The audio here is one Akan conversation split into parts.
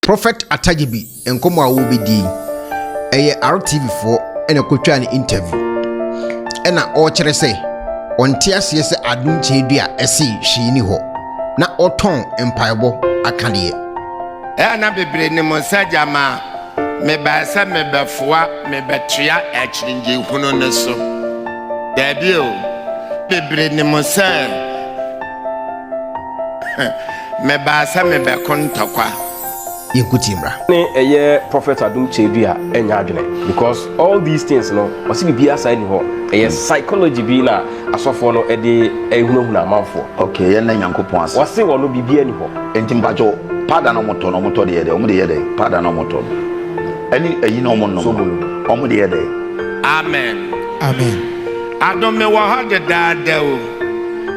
Prophet Atadzebi nkɔmmɔ a wɔrebɛdie yi, ɛyɛ RTV foɔ ɛna ɛkɔtwaa no interview ɛna ɔrekyerɛ sɛ ɔnte aseɛ sɛ Adom Kyeredua ɛse hwee ni hɔ na ɔtɔn mpaebɔ akadeɛ. Ɛyɛ na bebree nim sɛ gyama mebae sɛ mebɛfoa mebɛtoa akyinnyegye hunu no so? Daabi o, bebree nim sɛ. Mebaa sɛ mebɛko ntɔkwa. Yɛnko tie mmra. Ne ɛyɛ prophet adom kyɛdu a ɛnyɛ adwene because all these things no ɔse biribiara saa ni hɔ ɛyɛ psychology bi na asɔfoɔ no ɛde ɛhunahuna amanfoɔ. Ok yɛnna Nyankopɔn ase. Wɔse wɔno biribiara ni hɔ. Nti mpakyɛw powder na ɔmo tɔ no ɔmo tɔ de yɛ dɛn ɔmo de yɛ dɛn powder na ɔmo tɔ no ɛne ayi na ɔmo nom no ɔmo de yɛ dɛn. Amen Amen adom me wɔ hɔ dedaada o.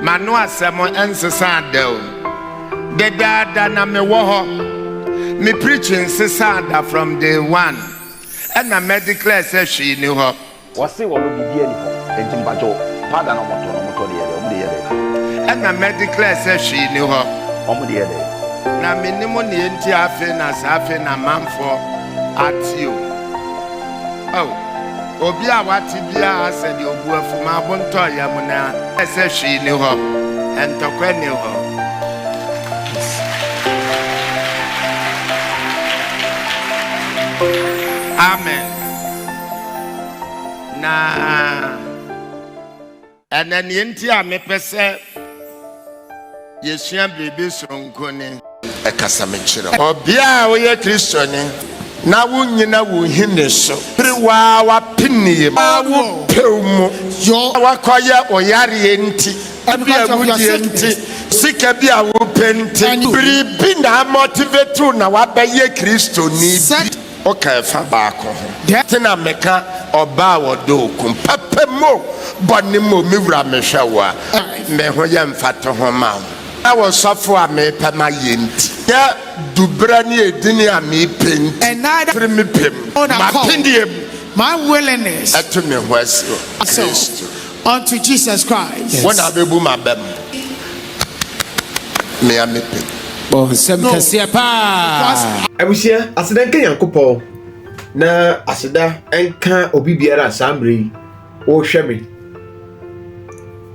M'ano asɛm nsesaa da o. Dedaada na mewɔ hɔ. Me preaching nsesaa da from day one ɛna mɛ declare sɛ hwee ni hɔ. Wɔse wɔno biribiaa ni hɔ. Enti mpakyɛ o, powder na wɔtɔ no, wɔtɔ de yɛ dɛn? Wɔn de yɛ dɛn? Ɛna mɛ declare sɛ hwee ni hɔ. Wɔn de yɛ dɛn? Na menim neɛ nti afei na saa afei na amanfoɔ ate o. Oh. Obi a wate biara sɛ deɛ ɔbu afu ma abo ntɔ yam no ara sɛ hwee nni hɔ, ntɔkwa nni hɔ. Amen. Na. Ɛnna nea enti a mepɛ sɛ yesua biribi soronko ne. Ɛkasa me kyerɛ wo. Ɔbea a woyɛ Kristoni na wunnyina wo nhini so bere wo ara w'apinie mu a wopɛw mu yɔ na woakɔyɛ wo yareɛ nti, ebi awudie nti, sika bi a wopɛ nti, biribi na amotivetew na woabɛyɛ Kristoni bi. Ɔka ɛfa baako ho. Deɛ nti na meka ɔbaa a ɔdɔ okunu papa mu o, bɔne mu o, me wura mehwɛ wo a, me ho yɛ mfatoho ma wo. Ɛna ɔsɔfo a mepɛ ma yɛ nti. Ɛna duberɛ ne edini a mepɛ nti. Ɛna da firi me pɛ mu, m'apeneɛ mu. My willingness. Ɛto ne ho ase wɔ Kristo. Unto Jesus Christ. Wo na abɛbu m'abam. Mea mepɛ. Oh, nsɛm kɛseɛ paa. Abusua, aseda nka Nyankopɔn na aseda nka obi biara a saa mmerɛ yi wohwɛ me.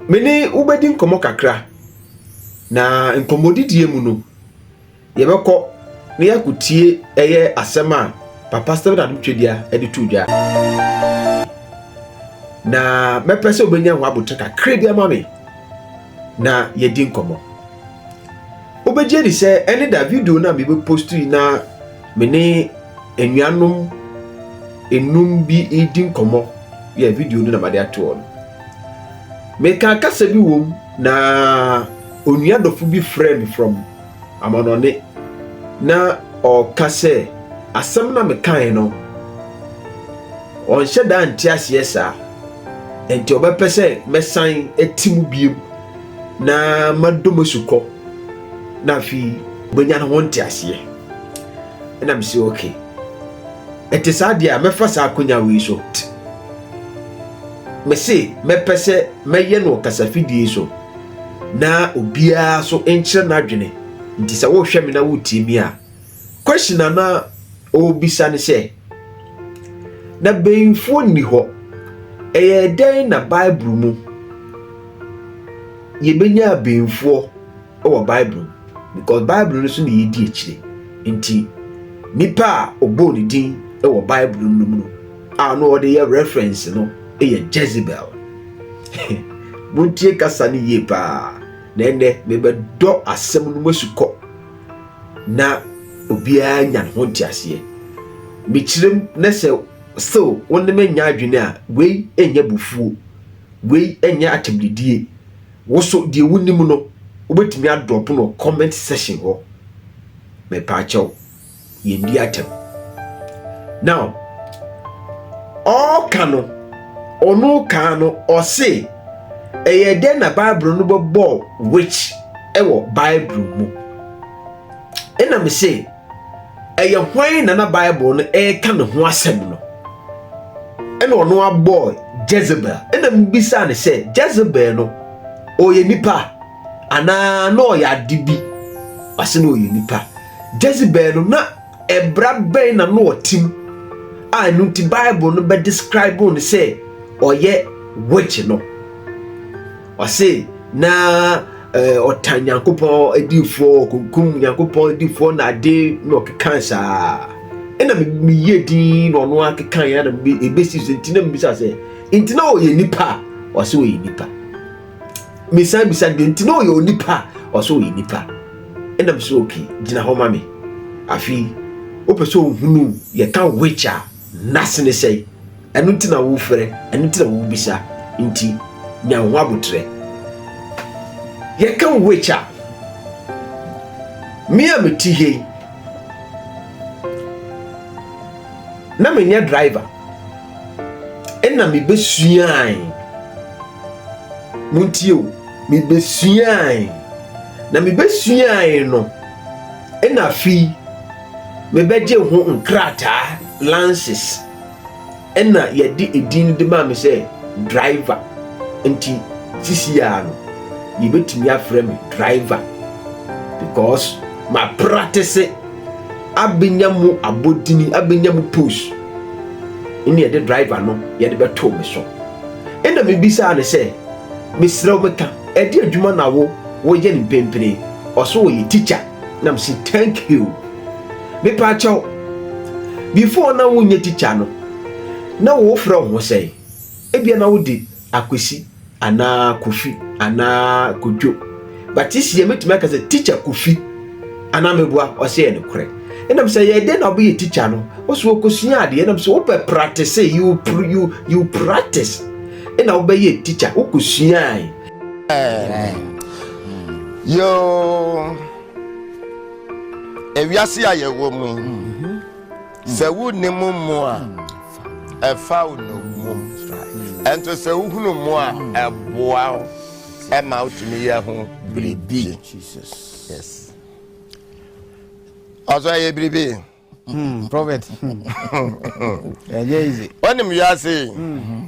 Me ne wobɛdi nkɔmmɔ kakra, na nkɔmmɔdidie mu no, Yɛbɛkɔ na yɛakotie ɛyɛ asɛm a Papa Stephen Adom Twedia de too dwa. Na mɛpɛ sɛ wobɛnya ho abotire kakra bi ama me na yɛdi nkɔmmɔ. Wobɛgye di sɛ ɛne da video no a mebɛpost yi na me ne anuanom enum bi redi nkɔmmɔ yɛ video no na made atoɔ no. Meka kasa bi wom na onua dɔfo bi frɛ me from amannɔne na ɔreka sɛ, Asɛm no a mekae no, ɔnhyɛ da nte aseɛ saa, enti ɔbɛpɛ sɛ mɛsan ati mu biem na madɔ mu asukɔ na afei ɔbɛnya ne ho nteaseɛ. Ɛna me sɛ, okay, ɛte saa deɛ a mɛfa saa akonya wei so. Me se mɛpɛ sɛ mɛyɛ no wɔ kasafidie so. na obiara so nkyerɛ n'adwene nti sɛ wohwɛ me na wotie mi a question a na ɔrebisa ne sɛ na bɛnfuo nni hɔ ɛyɛ dɛn na bible mu yɛbɛnya bɛnfuɔ wɔ bible mu because bible no so na yɛdi akyire nti nipa a ɔbɔɔ ne din wɔ bible no mu no a na ɔde yɛ reference no yɛ jezebel montie kasa no yie paa na ɛnɛ mebɛdɔ asɛm no mu asukɔ na obiara nya ne ho nteaseɛ mekyerɛm na sɛ still wo ne me nya adwene a wei ɛnyɛ bufuo wei ɛnyɛ akyɛmdedie wo so deɛ wonim no wobɛtumi adrɔpo no comment section hɔ mepaakyɛw yɛndi atɛm now ɔɔka no ɔno kaa no ɔse ɛyɛ dɛn na bible no bɛbɔ witch ɛwɔ bible mu ɛna me se ɛyɛ hwan na na bible no ɛreka ne ho asɛm no ɛna ɔno abɔ jezebel ɛna mebisa ne sɛ jezebel no ɔyɛ nipa anaa na ɔyɛ ade bi ɔse na ɔyɛ nipa Jezebel no, na ɛbra bɛn na na ɔte mu a ɛno nti Bible no bɛdescribe no sɛ ɔyɛ witch no? Ɔse na ɔtan Nyankopɔn adiifoɔ, ɔkunkum Nyankopɔn adiifoɔ na ade na ɔkekan saa. Ɛna meyɛ din na ɔno akekan ya na ɛbɛsi so nti na mebisa sɛ nti na ɔyɛ nipa a ɔse ɔyɛ nipa. mesan bisa deɛ nti na ɔyɛ onipa a ɔsɛ ɔyɛ nipa ɛna mesɛ okay gyina hɔ ma me afei wopɛ sɛ ɔhunu yɛka which a nase ne sɛe ɛno nti na wofrɛ ɛno nti na wobisa nti nya ho aboterɛ yɛka which a me a mete hei na menyɛ driver ɛna mibesuae. Muntie o, mibesuae. Na mibesuae no, ɛna afei mebɛgye ho nkrataa, lances, ɛna yɛde edin de maa me sɛ driver. Nti sisi a no, yebetumi afrɛ me driver because ma practice abɛnya mu abɔdini, abɛnya mu post, ɛna yɛde driver no yɛde bɛtoo me so ɛna mebisaa no sɛ mesrɛ wo meka ɛde adwuma na wo woyɛ no mpempene ɔso wɔyɛ teacher na mese thank you mepɛ akyɛw before na wonyɛ teacher no na wofrɛ wo ho sɛn ebia na wode Akwesi anaa Kofi anaa Kwadwo. But sisi yɛ mɛtumi aka sɛ teacher Kofi anaa meboa ɔsɛ yɛ nokorɛ. Ɛnam sɛ yɛ dɛn na wobɛyɛ teacher no ɔsɛ wɔkɔsua adeɛ ɛnam sɛ wopɛ practice you, you, you practice ɛna wobɛyɛ teacher wokɔsuae. Yoo ewiase a yɛwɔ mu yi. Sɛ wonni mo mmo a, ɛfa wo nnommum. Ɛnto sɛ wohunu mmo a, ɛboa wo ɛma wotumi yɛ ho biribi. Ɔsɔ ɛyɛ biribi. Hmm, prophet. Ɛnyɛ easy. Wɔnim wiase. Hmm.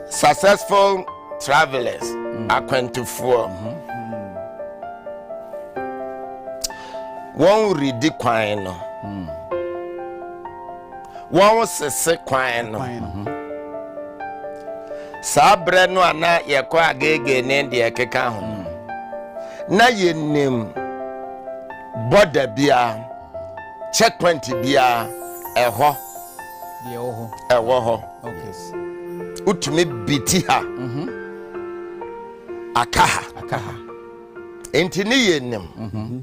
Successful travelers, mm. akwantufoɔ. Mm-hmm. Wɔn redi kwan no. Mm. Wɔn sese kwan no. Mm-hmm. Saa berɛ no a na yɛkɔ agege ne deɛ ɛkeka ho. Mm. Na yɛnim bɔda biara, checkpoint biara ɛhɔ. deɛ ɛwɔ hɔ ɛwɔ hɔ wotumi biti ha mhm. aka ha aka ha enti ne yɛ nim mhm.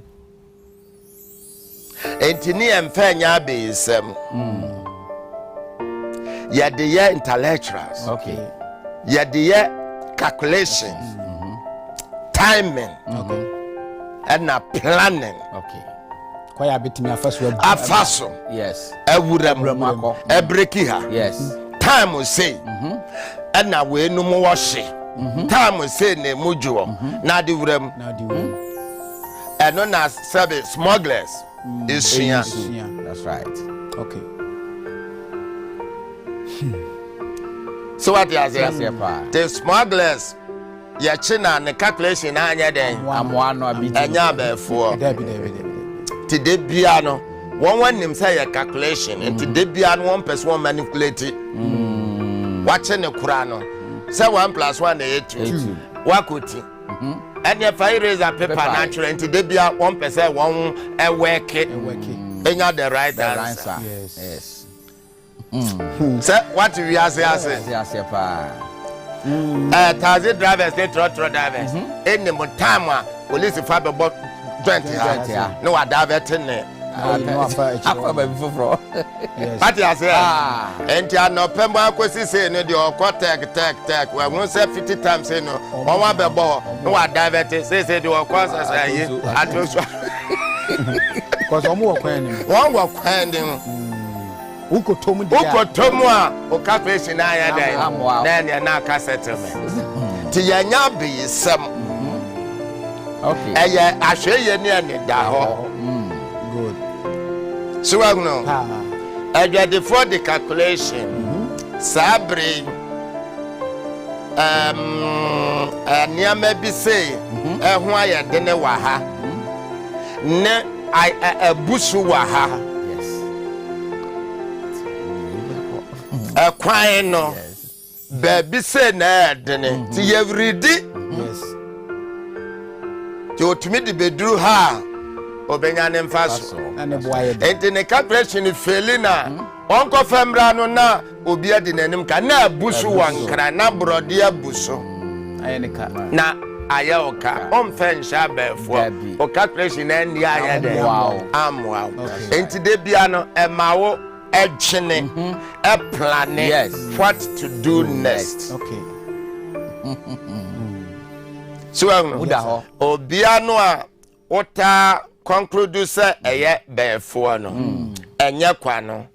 enti ne yɛ mfa nyɛ abɛyisɛm mm. yɛde yɛ intellectuals yɛde yɛ calculation mhm. timing ɛna planning okay. kwan a betumi afa so abu afa so yes awura mu akɔ ɛbreki ha yes time sei mhm. ɛna weinom wɔhye mhm. time sei na emu dwoɔ mhm. na ade wura mu ɛno na sɛbi smugglers mm. esua that's right okay so what yɛ aseɛ te smugglers. yɛkye na ne calculation na anyɛ dɛn ɛnyɛ abɛɛfoɔ nti da bia no wɔn anim sɛ yɛ calculation nti da bia no wɔn pɛ so wɔn manipulate mm. wakye ne kora no sɛ one plus one na yɛ two wakɔ ti mhm. ɛnna ɛfa eraser paper na atwerɛ nti da bia wɔn pɛ sɛ wɔn ɛwɛke enya the right answer. Yes. Hmm. sɛ wate wiase ase taxi drivers ne trɔtrɔ drivers ɛnim mhm. time a polisi fa bɛbɔ joint ha ne wadavɛte ne afa baabi foforɔ wate aseɛ ah. ɛnti anɔpɛ mu akɔsi sei no deɛ ɔkɔ tɛk tɛk tɛk wahu sɛ fifty times sei no wɔn abɛbɔ hɔ ne wadavɛte seesei deɛ ɔkɔ sɛsɛ ayi ato so kɔsɛ wɔn wɔ kwan ne mu wɔn wɔ kwan ne mu. Wokɔtɔ mu a, wo kafeehye no ayɛ dɛn? Na ɛneɛ na aka settlement. Nti yɛnyɛ abeyisɛm. Ɛyɛ ahwɛyie ne anidahɔ. So wahunu? Adwadifoɔ de calculation saa bere yi um, nneɛma bi sei ɛho ayɛ dene wɔ ha ne I a abu so wɔ ha. Ɛkwan no, baabi sɛ na ɛyɛ dene, mm-hmm. nti yɛweredi. Nti otumi de beduru ha a, obenya ne mfa so. Nti ne calculation feli na mm-hmm. ɔnkɔfɛ mmra no na Obi adi n'anim ka na abu so wɔ Nkran na borɔdeɛ abu so na ayɛ wo ka. Ɔmfɛ nhyɛ abɛɛfoɔ wo calculation na ɛnni ayɛ dɛ ammoa wo. Enti da bia no ɛma wo ɛdwene ɛplane what to do next. So ɛhunu obia no a wotaa conclude sɛ ɛyɛ bɛɛfoɔ no ɛnyɛ kwa no.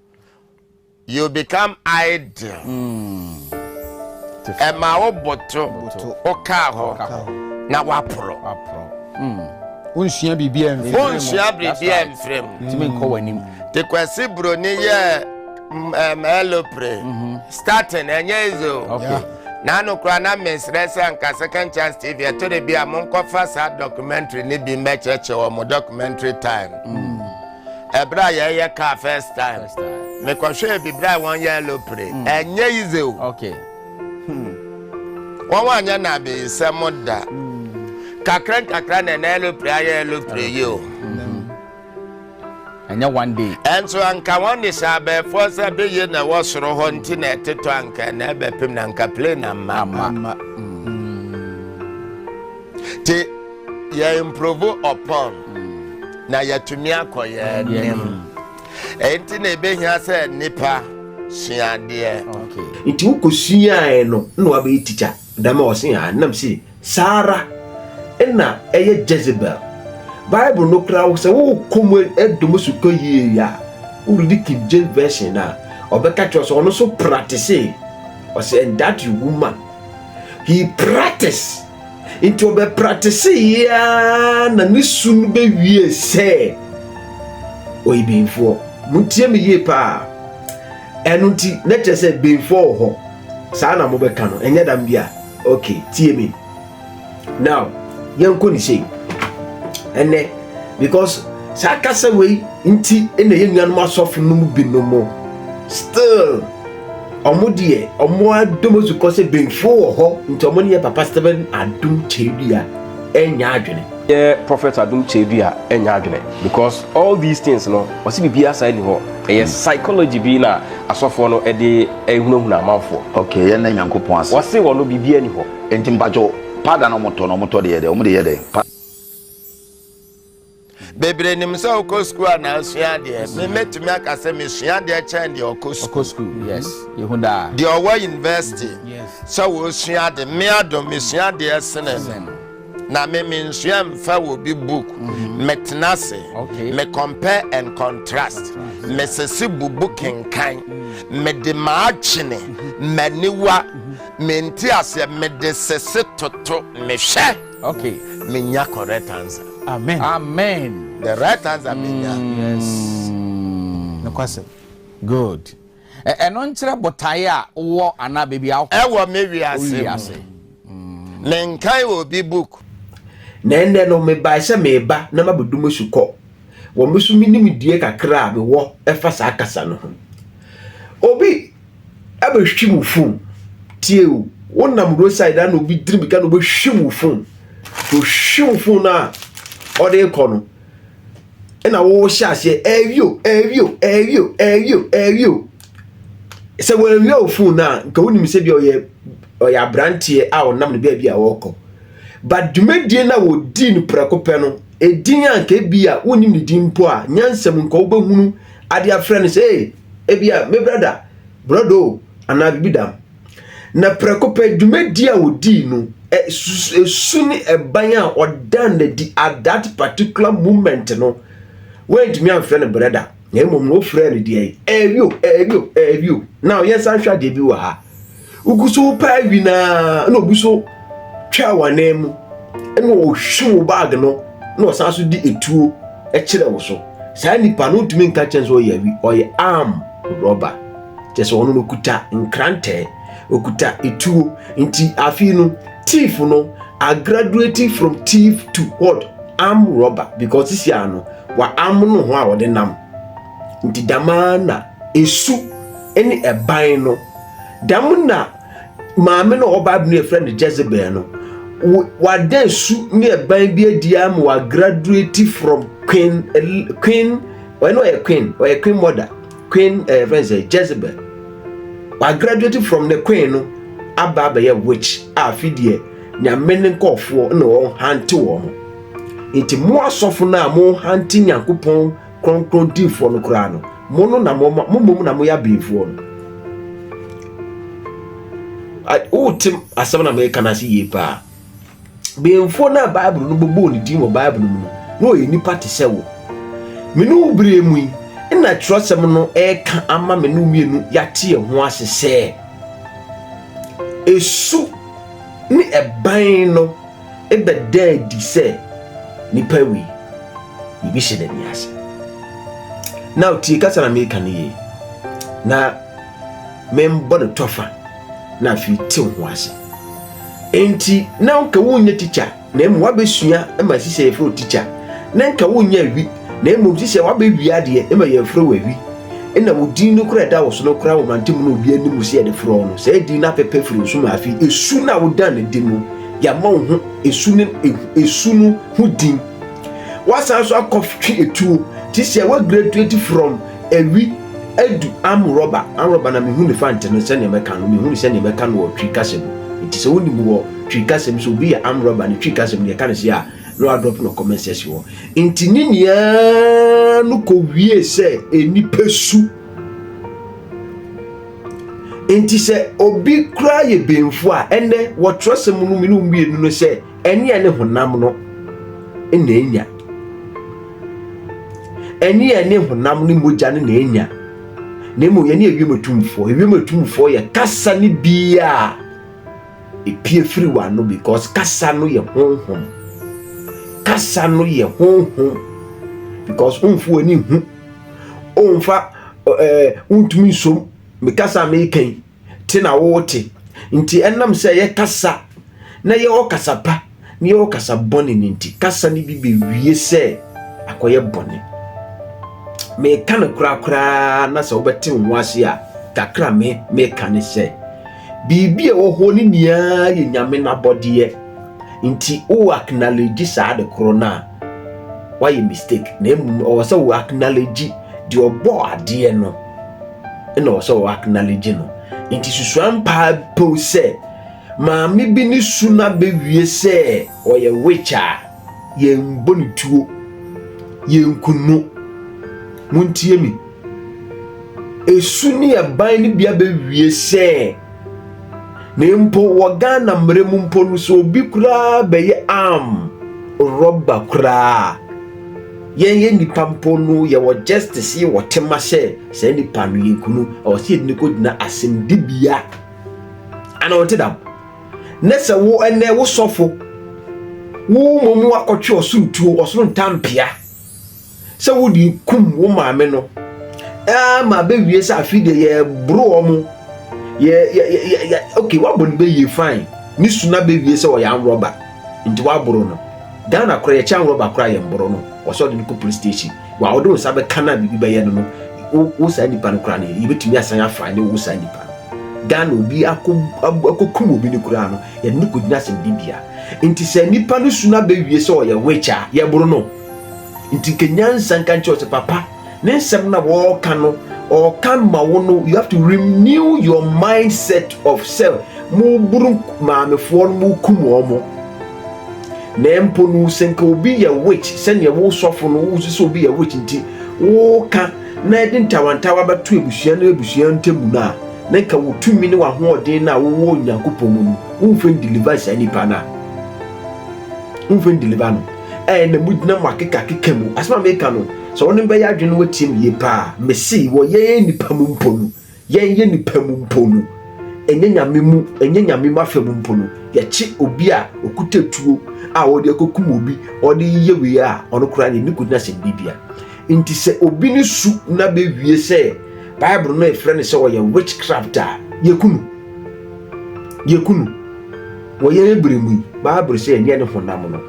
You become idle. Ɛma wo boto wokaa hɔ na woaporɔ. Wonsua biribiara mfiri mu. Wonsua biribiara mfiri mu. Tumi nkɔ w'anim. Te Kwasi Broni yɛ um, elopre. Mm-hmm. Starting ɛnyɛ easy o. Okay. N'ano kura na mesrɛ sɛ anka second chance tv ɛto de bi a monkɔfa saa documentary ne bi mmɛkyerɛkyerɛ wɔ mo documentary time. Mm. ɛberɛ a yɛyɛ car first time mekɔhwɛɛ bibirɛ a wɔn yɛ alopre hmm. ɛnyɛ yize o hmm. wɔn wɔn anyɛ na abeyisɛm da hmm. kakra nkakra na ɛna alopre ayɛ alopre yi o ɛnyɛ one day ɛnso anka wɔn de hyɛ abɛɛfoɔ sɛ beye na ɛwɔ soro hɔ nti na ɛtetɔ anka ɛna ɛbɛpem na anka plane amma amma te Yɛ improve upon na yɛatumi akɔ yɛn anim. Ɛyi nti na ebehia sɛ nipa sua adeɛ. Nti wokɔ suaeɛ no na wabɛyɛ tikya dama ɔse a nam se saa ara na ɛyɛ Jezebel Bible no koraa sɛ wokɔ mu ɛdom so tɔ yie a woredi King James version a ɔbɛka kyerɛ sɛ ɔno so practice ɔsɛ and that you woman he practice Nti ɔbɛpratesee ara na ne su no bɛwie sɛ ɔyɛ benfoɔ. Motie me yie paa. Ɛno nti na kyerɛ sɛ benfoɔ wɔ hɔ. Saa na mobɛka no, ɛnyɛ dam bi a. Okay, tie me. Now, yɛnkɔ ne sei. Ɛnɛ, because saa kasa wei nti na yɛn nuanom asɔfo no mu binom still Ɔmo deɛ ɔmo adom asu kɔ sɛ benfuo wɔ hɔ nti ɔmo ne yɛ papa Stephen Adom Kyeredua ɛnyɛ adwene. Yɛ prophet Adom Kyeredua ɛnyɛ adwene because all these things no ɔse biribiara saa ni hɔ ɛyɛ hmm. psychology bi na asɔfoɔ no ɛde ɛhunahuna amanfoɔ. Okay yɛn na Nyankopɔn ase. Ɔse wɔ no biribiara ni hɔ. Nti mpatwo pada na ɔmo tɔ na ɔmo tɔ deɛ yɛ dɛ ɔmo de yɛ dɛ. Bebree nim sɛ wokɔ sukuu a na asua adeɛ. Me mɛtumi aka sɛ mesua adeɛ kyɛn deɛ ɔkɔ sukuu. Mm-hmm. Deɛ ɔwɔ university sɛ wɔsua ade. Me adom mesua adeɛ sene no. Na me mensua mfa wɔ bi book. Mm-hmm. Metena ase. Me compare and contrast. Mesese bubu kenkan. Mm-hmm. Mede m'adwene, m'aniwa, mente aseɛ mede sese toto mehwɛ. Okay, menya correct answer. Amen. Amen. The right answer menya. Mm, yes. Mm. Nokwasɛm. Good. Ɛno e, nkyerɛ botae a wɔ anaa baabi a wokɔ. Ɛwɔ me wiase mu. Mm. Ne nkan wɔ obi book. Na ɛnɛ no mebae sɛ meba na mabɛdu mo so kɔ. Wɔ me so menim die kakra a mewɔ ɛfa saa kasa no ho. Obi abɛhwim wo fon tie o wonam roadside a na obi diri mirika na obɛhwim wo fon to hwim wo fon no a ɔde kɔ no ɛna wohyɛ aseɛ ɛwio ɛwio ɛwio ɛwio ɛwio sɛ wɔawia wo fon no a nka wonim sɛ bi ɔyɛ ɔyɛ aberanteɛ a ɔnam no baabi a ɔrekɔ ba dwumadie no a wɔdii no prɛko pɛ no ɛdin a nka bi a wonim ne din mpo a nyansam nka wobɛhunu adeɛ afrɛ no sɛ ebia me brada, borɔdɔ o, anaa biribi dam. Na prɛko pɛ, dwumadi a wɔdii no, esu ne ɛban a ɔdan no adi at that particular moment no, wɔantumi amfrɛ no brɛda, na mmom no wɔfrɛɛ no deɛ, ɛɛwio, ɛɛwio, ɛɛwio. Now yɛnsan hwɛ adeɛ bi wɔ ha. Wogu so repɛ awi no ara na obi so twaa wɔn anan mu na ɔhwe wo baage no na ɔsan so de etuo kyerɛ wo so. Saa nipa no ntumi nka kyɛn sɛ ɔyɛ awi, ɔyɛ arm rɔba. Kyɛ sɛ ɔno no kuta nkrantɛ, okuta etuo. Nti afei no thief no a graduate from thief to what? Arm rɔba because sisi ano wa arm no ho a ɔde nam. Nti dɛm ara na esu ne ɛban no, dɛm na maame no a ɔwɔ Bible no yɛfrɛ no Jezebel no, wada esu ne ɛban bi adi ama wa graduate from queen queen ɔyɛ no ɔyɛ queen ɔyɛ queen mother queen ɛyɛ fɛn sɛ Jezebel wa graduate from ne queen no aba abɛyɛ witch a afi deɛ nyame ne nkɔɔfoɔ na wɔn hante wɔn nti mo asɔfo no a mo hante nyankopɔn Kronkron difoɔ no koraa no, mo no na mo mo mmom na moyɛ abenfoɔ no. Wote asɛm na meka no ase yie paa. Benfoɔ no a Bible no bobɔɔ ne din wɔ Bible mu no, na ɔyɛ nipa te sɛ wo. Me ne wo berɛ mu yi, nna twerɛsɛm no ɛreka ama me ne wo mmienu yɛate yɛn ho ase sɛ, esu ne ɛban no ɛbɛda adi sɛ nipa wei biribi hyɛ n'ani ase na otie kasa na meka no yie na membɔ no tɔfa na afei tew ho ase enti na nka wonyɛ tikya na mmom wabɛsua ma ɛsi sɛ yɛfrɛ tikya na nka wonyɛ awi na mmom si sɛ wabɛwi adeɛ ma yɛfrɛ wɔ awi ɛna wo din no kora ɛda wo so no kora wo mantam no obi anim sɛ yɛde frɛ no sɛ din no apɛpɛ firi nso ma afei ɛsu na wodan ne din no Yɛama wo ho esu ne esu no ho din. Wasan nso akɔtwe etuo te sɛ wa graduate from awi adu amrɔba amrɔba na mehu ne fante no sɛdeɛ mɛka no mehu ne sɛdeɛ mɛka no wɔ twi kasa mu nti sɛ wonim wɔ twi kasa mu sɛ obi yɛ amrɔba ne twi kasa mu deɛ ɛka no sɛ a na wadrɔp no comment section hɔ nti ne nyinaa no kɔ wie sɛ nipa su nti sɛ obi koraa yɛ benfo a ɛnɛ wɔtwerɛsɛm no mu no mmienu no sɛ ɛneɛ ne honam no na ɛnya ɛneɛ ne honam ne mogya no na ɛnya na mmom yɛne ewiem atumfoɔ ewiem atumfoɔ yɛ kasa ne bia a ɛpie firi w'ano because kasa no yɛ honhom kasa no yɛ honhom because womfo w'ani hu ɔmfa ɛɛ wontumi nsom me kasa a meka yi te na wote nti ɛnam sɛ yɛkasa na yɛwɔ kasa pa na yɛwɔ kasa bɔne no nti kasa no bi bɛwie sɛ akɔyɛ bɔne meka no korakoraa na sɛ wobɛte wo ho ase a kakra me meka ne sɛ Biribi a ɛwɔ hɔ no nyinaa yɛ Nyame n'abɔdeɛ, nti wo acknowledge saa ade koro no a, woayɛ mistake. Na mmom ɛwɔ sɛ wo acknowledge deɛ ɔbɔɔ adeɛ no, ɛna ɛwɔ sɛ wo acknowledge no. Nti susua mpaa pow sɛ, maame bi ne su no abɛwie sɛ ɔyɛ witch a, Yɛnbɔ no tuo, yɛnku no. Montie me. Esu ne ɛban no bi abɛwie sɛ, na mpo wɔ Ghana mmerɛ mu mpo no sɛ obi koraa bɛyɛ arm rɔba koraa a, yɛn yɛ nnipa mpo no yɛwɔ justice, yɛwɔ tema sɛ saa nnipa no yɛnku no, ɛwɔ sɛ yɛde no kɔgyina asɛmdibea. Ana ɔnte dam? na sɛ wo ɛnnɛ wo sɔfo wo mmom akɔtwe ɔsoro tuo, ɔsoro ntampea sɛ wode kum wo maame no ma bɛwie sɛ afei deɛ yɛboro wɔ mo yɛ yɛ yɛ yɛ ok wabɔ no bɛyie fine ne su na bɛwie sɛ ɔyɛ anwrɔba nti waboro no Ghana kora yɛkyɛ anwrɔba kora yɛn boro no wɔsɛ ɔde no kɔ police station Wa wode wo nsa bɛka no a biribi bɛyɛ no no wo wo saa nipa no koraa no yɛbɛtumi asan afa ne wo saa nipa no Ghana obi akɔ akɔkum obi no koraa no yɛde no kɔgyina asɛmdi bia nti sɛ nipa no su no abɛwie sɛ ɔyɛ witch a yɛboro no nti nka nyansa nka nkyerɛ sɛ papa ne nsɛm na wɔɔka no ɔɔka ma wo no you have to renew your mindset of self mo buru maamefoɔ no mo kum wɔn mo Na mpo no sɛ nka obi yɛ witch sɛnea wo sɔfo no wo sɛ obi yɛ witch nti woka na ɛde ntawantawa bɛto abusua no abusua ntam no a na nka wo tumi ne w'ahoɔden no a wowɔ Onyankopɔn mu no womfa ndeliver saa nipa no a womfa ndeliver no ɛɛ na mugyina mo akekakeka mu asɛm a meka no sɛ wo ne bɛyɛ adwene no watie me yie paa mese wɔyɛ nipa mu mpo no Yɛyɛ nnipa mu mpo no, ɛnyɛ Nyame mu, ɛnyɛ Nyame mu afa mu mpo no, yɛkye obi a ɔkuta tuo a ɔde akɔkum obi, ɔde yɛ wei a, ɔno koraa deɛ ne kɔgyina sɛ biribi bia. Nti sɛ obi ne su na bɛwie sɛ Bible no ɛfrɛ no sɛ ɔyɛ witchcraft a, yɛku no. Yɛku no. Wɔ yɛn berɛ mu yi, Bible sɛ ɛnyɛ ne honam no,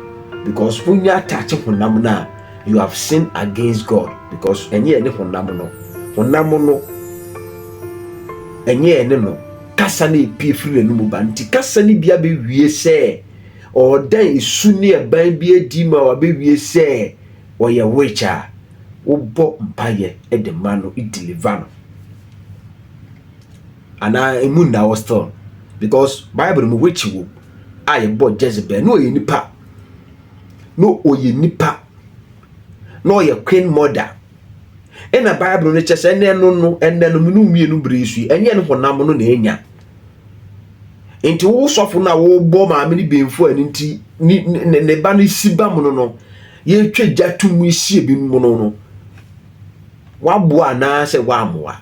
because wonnya ataakye honam no a, You have sinned against God because ɛnyɛ ɛne honam no. Honam no ɛnyɛ ɛne no. Kasa no epie firi n'anum ba nti kasa no bi abɛwie sɛ ɔredan esu ne ɛban bi adi ma wabɛwie sɛ ɔyɛ witch a wobɔ mpaeɛ de ma no deliver no anaa emu nna wɔ still because bible mu witch wom a yɛbɔ jezebel ne ɔyɛ nipa na ɔyɛ nipa na ɔyɛ queen mother ɛna bible no kyɛ sɛ ɛnɛ no no ɛnɛ no mmienu mmienu bere so yi ɛnyɛ no honam no na ɛnya nti wo sɔfo no a wobɔ maame no benfo ani nti ne ba no si ba mu no no yɛtwa gya to mu sie bi mu no no Waboa anaasɛ wammoa?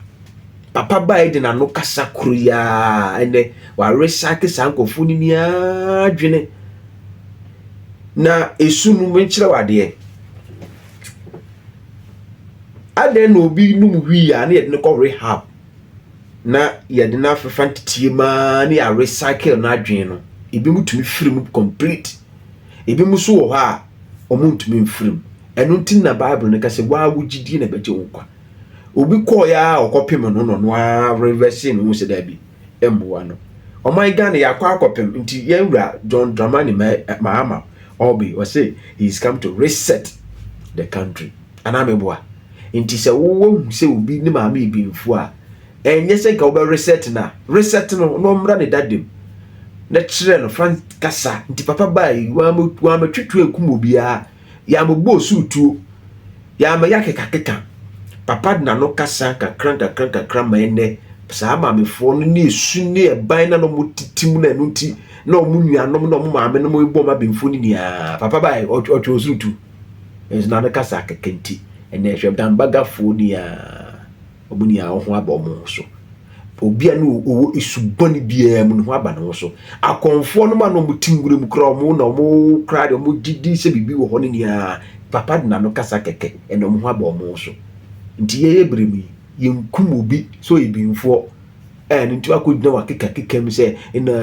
Papa ba a edi n'ano kasa koro yi ara ɛnɛ, warecycle saa nkurɔfoɔ no ni ara dwene. Na esu no menkyerɛ wadeɛ. Adɛn na obi nom wii a na yɛde no kɔ rehab na yɛde no afefa nteteɛ mu ara ne yɛarecycle n'adwene no. Ebinom tumi firi mu complete. Ebinom nso wɔ hɔ a wɔntumi mfiri mu. Ɛno nti na Bible no ka sɛ waa wo gyidie na ɛbɛgye wo nkwa. Obi kɔɔeɛ a ɔkɔpem no na ɔno ara revɛse ne ho sɛ daabi mmoa no. Ɔman Ghana yɛakɔ akɔpem nti yɛn wura John Dramani Mahama Orbih ɔse he is come to reset the country. Anaa meboa? Nti sɛ wowɔ hu sɛ obi ne maame yɛ benfuo a Ɛnyɛ sɛ nka wobɛ reset no a reset no na ɔmmra ne dada mu na kyerɛ no fa kasa nti papa baa yi wɔamɛtwetwe ankum obiara yɛamɛbɔ osuru tuo yɛamɛyɛ akekakeka papa de n'ano kasa nkakra nkakra nkakra ma ɛnɛ saa maamefoɔ no ne esu ne ɛban na na wɔn titi mu na ɛno nti na wɔn nuanom na wɔn maame nom bɔ wɔn abɛnfo ne nyinaa papa baa yi ɔtwe osuru tuo nso n'ano kasa akeka nti ɛnɛ ɛhwɛ dambagafoɔ ni aa. Wɔn nyinaa ho aba wɔn ho so. Obi a ne ɔwɔ esu bɔne biara mu ne ho aba ne ho so. Akɔmfoɔ no ma na wɔn te nwura mu kura wɔn na wɔn kura de wɔn gye di sɛ biribi wɔ hɔ ne nea papa de n'ano kasa kɛkɛ ɛna wɔn ho aba wɔn ho so. Nti yɛyɛ bere mu yi yɛnkum obi sɛ ɔyɛ binfoɔ ɛna nti wakɔgyina wakekakeka mu sɛ ɛna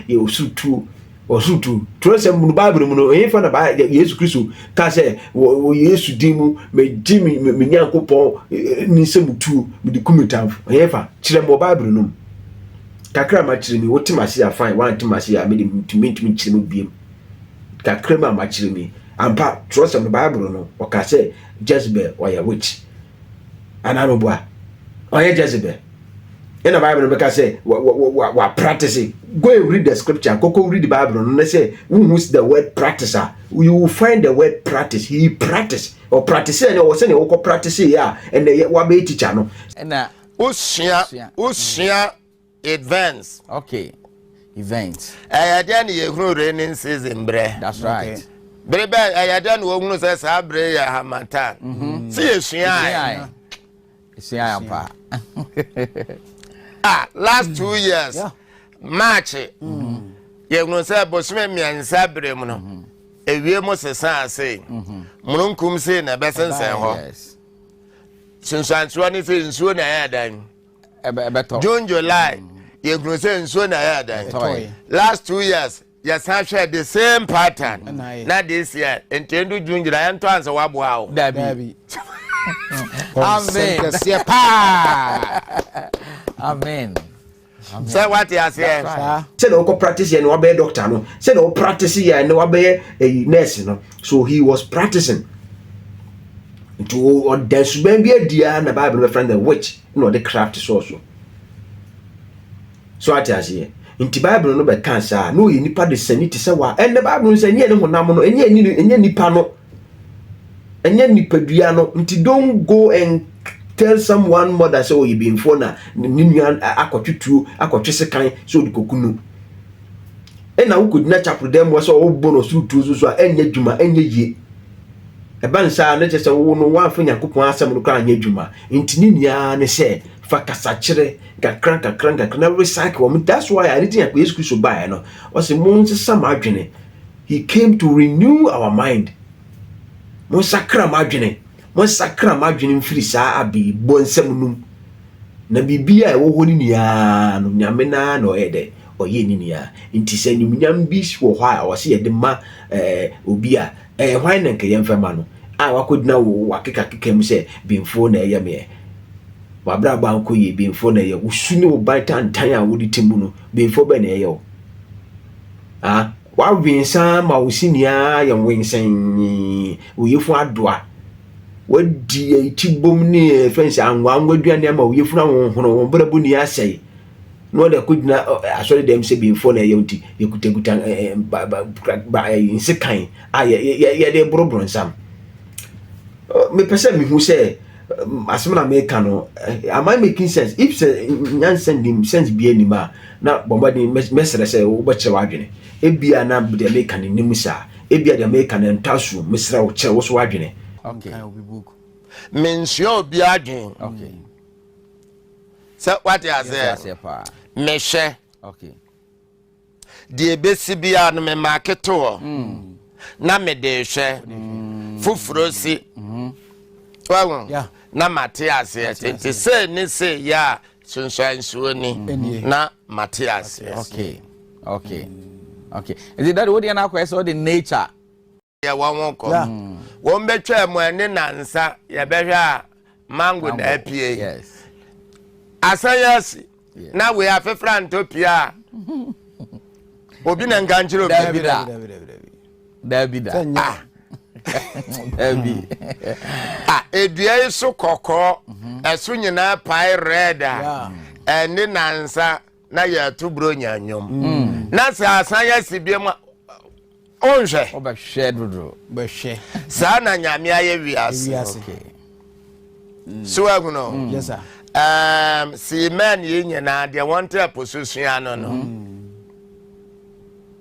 yɛ ɔsoro tuo Ɔsotu. Twerɛsɛm mu no, Bible mu no, ɛhefa na Yesu Kristo ka sɛ wɔ Yesu din mu megye me me Nyankopɔn eh, eh, ne nsɛm tuo mede ku me tamfo? Ɛhefa? Kyerɛ me wɔ Bible no mu. Kakra ma kyerɛ mi, wote m'ase a fine, woante m'ase a mede mentumi ntumi nkyerɛ mu biam. Kakra mu a ma kyerɛ mi. Ampa, twerɛsɛm no Bible no, ɔka sɛ Jezebel ɔyɛ witch. anaa no bua ɔyɛ jezebel ɛna bible no bɛka sɛ wa practice go and read the scripture koko read the bible no ne sɛ wohu the word practice a you will find the word practice he practice or practice ɛne ɔwɔ sɛdeɛ wokɔ practice yɛ a ɛnɛ wabɛyɛ teacher no ɛna wosua wosua Events. Okay. Events. Ɛyɛ dɛn na yɛhunu raining season berɛ? That's right. Okay. Bere bɛn ɛyɛ dɛn na wɔhunu sɛ saa bere yɛ hamatan? Mm-hmm. Sɛ yɛsuae. Yɛsuae ampa. Ah, last two mm-hmm. years. Yeah. March. Mm-hmm. Yɛhunu sɛ bosome mmiɛnsa bere mu no. Mm-hmm. Ewie mu sesa ase. Mm-hmm. Mununkum sei na ɛbɛsensɛn hɔ. Yes. Sunsuansoɔ ne sɛ nsuo na ɛyɛ dan. ɛbɛtɔ june july yɛhunu sɛ nsuo na ɛyɛ adan last two years yɛsan hwɛ the same pattern na this year ntɛndu june july ɛntɔ ansɛ waboa wo dabi amen kɛseɛ paa amen sɛ wate aseɛ sɛdeɛ wokɔ practice yɛ ne wabɛyɛ doctor no sɛdeɛ wo practice yɛ ne wabɛyɛ eh, nurse no so he was practicing nti ɔda suban bi adi a na bible bɛfrɛ no the witch na ɔde craft sɔɔ so so ate aseɛ nti bible no bɛka saa na ɔyɛ nipa de sani te sɛ wa ɛnɛ bible no sɛ ɛnyɛ ne honam no ɛnyɛ ne ɛnyɛ nipa no ɛnyɛ nipadua no nti don't go and tell someone mother sɛ ɔyɛ bɛnfoɔ na ne nua akɔtwe tuo akɔtwe sekan sɛ ɔde kɔku no ɛna wokɔgyina kyaprodɛm mu sɛ wɔbɔ no ɔsoro tuo so so a ɛnyɛ adwuma ɛnyɛ yie ɛba ne saa ne kyɛ sɛ wo no woamfa nyankopɔn asɛm no koraa anyɛ adwuma nti ne nyinaa ne sɛ fa kasakyerɛ nkakra nkakra nkakra na recycle wɔn that's why ade ti nyakopɔn yesu kristo baeɛ no ɔse mo nsesa mo adwene he came to renew our mind mo nsakra mo adwene mo nsakra mo adwene mfiri saa abɛyi bɔ nsɛm num Na biribiara a ɛwɔ hɔ no nyinaa no, Nyame no ara na ɔyɛ dɛ, ɔyɛ ne nyinaa. Nti sɛ animuonyam bi wɔ hɔ a wɔse yɛde ma ɛɛ obi a, ɛɛ hwan na nka yɛmfa ma no a wakɔgyina wo w'akekakeka mu sɛ Benfoɔ na ɛyɛ me ɛ? W'abrabɔ ankɔ yie, Benfoɔ na ɛyɛ wo. Wo su ne wo ban tantan a wode te mu no, Benfoɔ bɛn na ɛyɛ wo? Ah, w'awensa ma wo sini ara yɛ nwensɛnn, wo yefun adoa. Wɔadi atibom ne ɛfɛ nsɛ anwanwa aduane ama wo yɛfunu ahohoro wɔn brɛbo ni asɛe na wɔde akɔgyina asɔre dɛm sɛ bimfoɔ na ɛyɛ nti yɛkutakuta nsekan a yɛde boro bronsam mepɛ sɛ mehu sɛ asɛm na meka no am I making sense if sɛ nyansa nim sense bia nim a na bɔmmɔden mɛsrɛ sɛ wobɛkyerɛ w'adwene Ebia na deɛ meka no nnim saa. Ebia deɛ meka no ɛntɔ asoɔm. Mesrɛ wo, kyerɛ wo so w'adwene. Menkae obi book. Mensua obi adwene. Okay. Sɛ wate aseɛ. Yɛnte aseɛ paa. Mehwɛ. Okay. Deɛ ebesi biara no me maake to hɔ. Na mede hwɛ. Foforo si. Wahu? Yeah. Na mate aseɛ. Nti sei ne sei yɛ a sunsuan nsuo ni mm-hmm. na mate aseɛ okay okay okay ɛdi dade wo deɛ no akɔɛ sɛ wode nature yɛ wɔn ho kɔ wɔn bɛtwa mu ɛne nansa yɛbɛhwɛ a mango na apue asan yɛ asi na wei afefra ntɔ pie a obi na nka nkyerɛ obi daabi da ah. daabi a ah, edua yi so kɔkɔɔ mhm. ɛso nyinaa pae red a ɛne nansa na yɛto buro nya nnwom mm. na sɛ asan yɛsi bia mu a ɔnhwɛ ɔbɛhwɛ dodo bɛhwɛ saa na nyame ayɛ wiase mm. so ahuno mm. sii mɛn yi nyinaa deɛ wɔnte apo so sua no no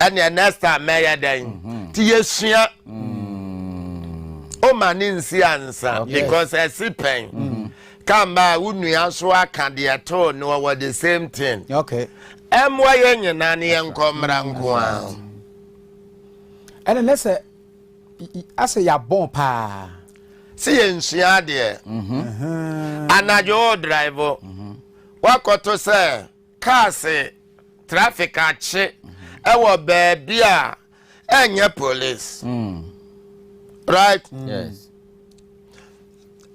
ɛneɛ next time mɛyɛ dɛn mm-hmm. nti yɛsua woma mm. ne nsi ansa because ɛsi pɛn mm-hmm. kamba wo nua so aka deɛ too ne wɔwɔ the same thing ɛmmoa yɛ nyina ne yɛnkɔ mmara nko a ɛne ne sɛ asɛ yɛabɔn paa sɛ yɛnsua adeɛ mm-hmm. anadwo wo drive woakɔto sɛ Cars traffic akye ɛwɔ baabi a ɛnyɛ police mm. right mm. yes.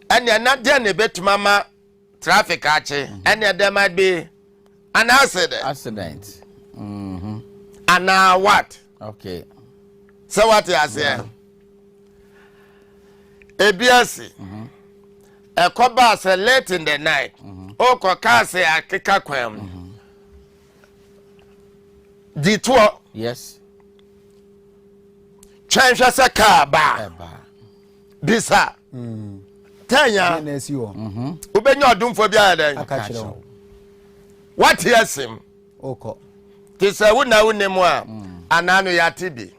ɛnneɛ na deɛ na ɛbɛtumi ama traffic akye mm-hmm. ɛnneɛ there might be an accident accident mm -hmm. anaa what Okay. Sɛ wate aseɛ. Ebi ase. Mhm. Ɛkɔ baa sɛ late in the night. Mhm. Okɔ kaa sɛ akeka kwan mu. Mhm. Ditoɔ. Yes. Twɛn hwɛ sɛ kaa baa. Bisa. Mm. Tanya. Wobɛnya ɔdomfoɔ bi ayɛ dɛn? Wate asim. Wokɔ. Te sɛ wo na wonni mu a, anaa no yɛate bi.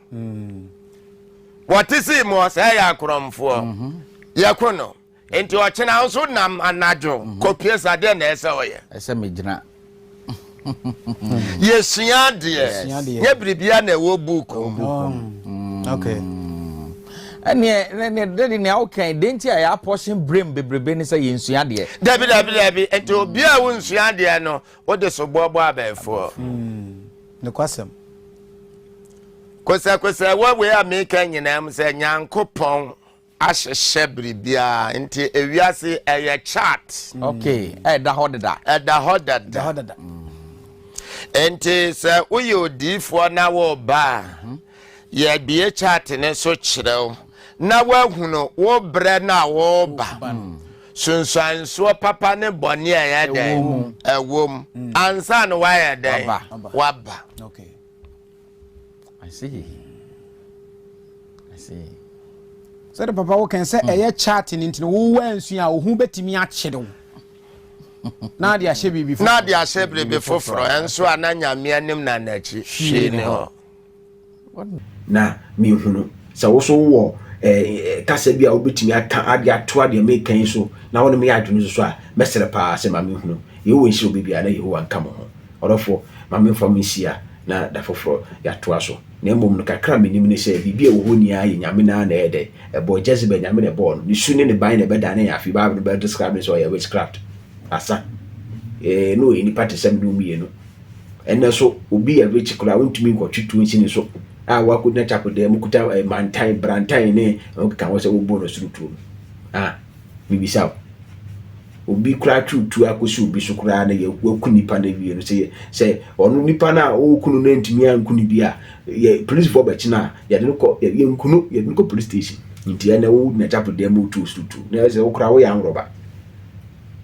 Wɔte sii mu ɔsɛe yɛ akorɔmfoɔ. Mhm. Yɛko no. Nti ɔkyena nso nam anadwo mhm. kɔpie sa deɛ na ɛsɛ ɔyɛ. Ɛsɛ megyina. Yɛsua adeɛ. Nyɛ biribia na ɛwɔ buuku. ɛneɛ dɛde nea wokan de nti a yɛapɔhye berem bebrebe ne sɛ yɛnsua adeɛ dabi dabi dabi nti obi a wonsua adeɛ no Wode soboɔ bɔ abɛɛfoɔ. Mm, nokwasɛm. Kosɛkosɛ wɔ wei a meka nyinaa mu sɛ Nyankopɔn ahyehyɛ biribiara nti ewiase ɛyɛ chart. Okay, ɛda hɔ dada. Ɛda hɔ dada. Nti sɛ woyɛ odiifoɔ na woba a mhm. yɛbie chart ne so kyerɛw na woahunu wo berɛ no a woba. Sunsuansoɔ papa ne bɔne a ɛyɛ dɛn ɛwɔ mu mm. ansa na wayɛ dɛn waba. Okay. I see. I see. sɛde papa wo kɛn sɛ ɛyɛ mm. chat no nti no wowɔ ansu a wo ho bɛtumi akyere wo na ade ahyɛ biribi foforɔ na ade ahyɛ biribi foforɔ ɛnso a na nyame anim na n'akyi hwee ne hɔ Na mehunu sɛ wo nso wowɔ kasa bi a wobɛtumi aka ade atoa deɛ meka yi so na wo ne me yɛ adwene nso so a, mɛsrɛ paa sɛ ma mehunu. Yehowa nhyira obi biara na Yehowa nka mo ho. Ɔdɔfoɔ, ma memfa mo nsia na da foforɔ yɛatoa so. Na mmom no, kakra a menim ne sɛ biribi a ɛwɔ hɔ nyinaa yɛ Nyame no ara na ɛyɛ dɛn? ɛbɔɔ Jezebel, Nyame na ɛbɔɔ no. Ne su ne ne ban na ɛbɛdane yɛn afei Bible no bɛ describe no sɛ ɔyɛ witchcraft, asa. Ee, na ɔyɛ nipa te sɛ me ne wo mmienu. Ɛnnɛ so, obi yɛ rich koraa a, ontumi nkɔtwe tuo nsi ne so a wakogyina chapel dan mu kuta eh, mantan, brantan ne ɔkeka ho sɛ wobɔ no soro tuo no. Ah, mebisa wo. Obi koraa twe tuo akɔsi obi so koraa na yɛ waku nipa no awie no sɛ yɛ- sɛ ɔno nipa no a ɔreku no no antumi anku no bi a, yɛ polisifoɔ bɛkye no a, yɛde no kɔ yɛ- yɛnku no yɛde no kɔ police station. Nti ɛnnɛ wogyina chapel dan mu wotu wo soro tuo na ɛsɛ wo koraa woyɛ anworoba.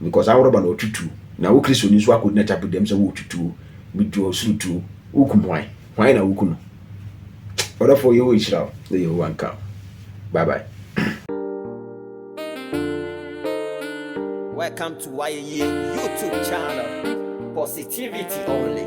Because awɔrɔ ba na ɔtutu, na wo Kristoni nso akɔdi n'atapu dɛm sɛ woretutu o, metu ɔsoro tu o, wokum hwan? Hwan na woku no? Ɔdɔfoɔ, Yehowa nhyira wo na Yehowa nka wo. Bye bye. Welcome to Wayeyie YouTube channel, positivity only.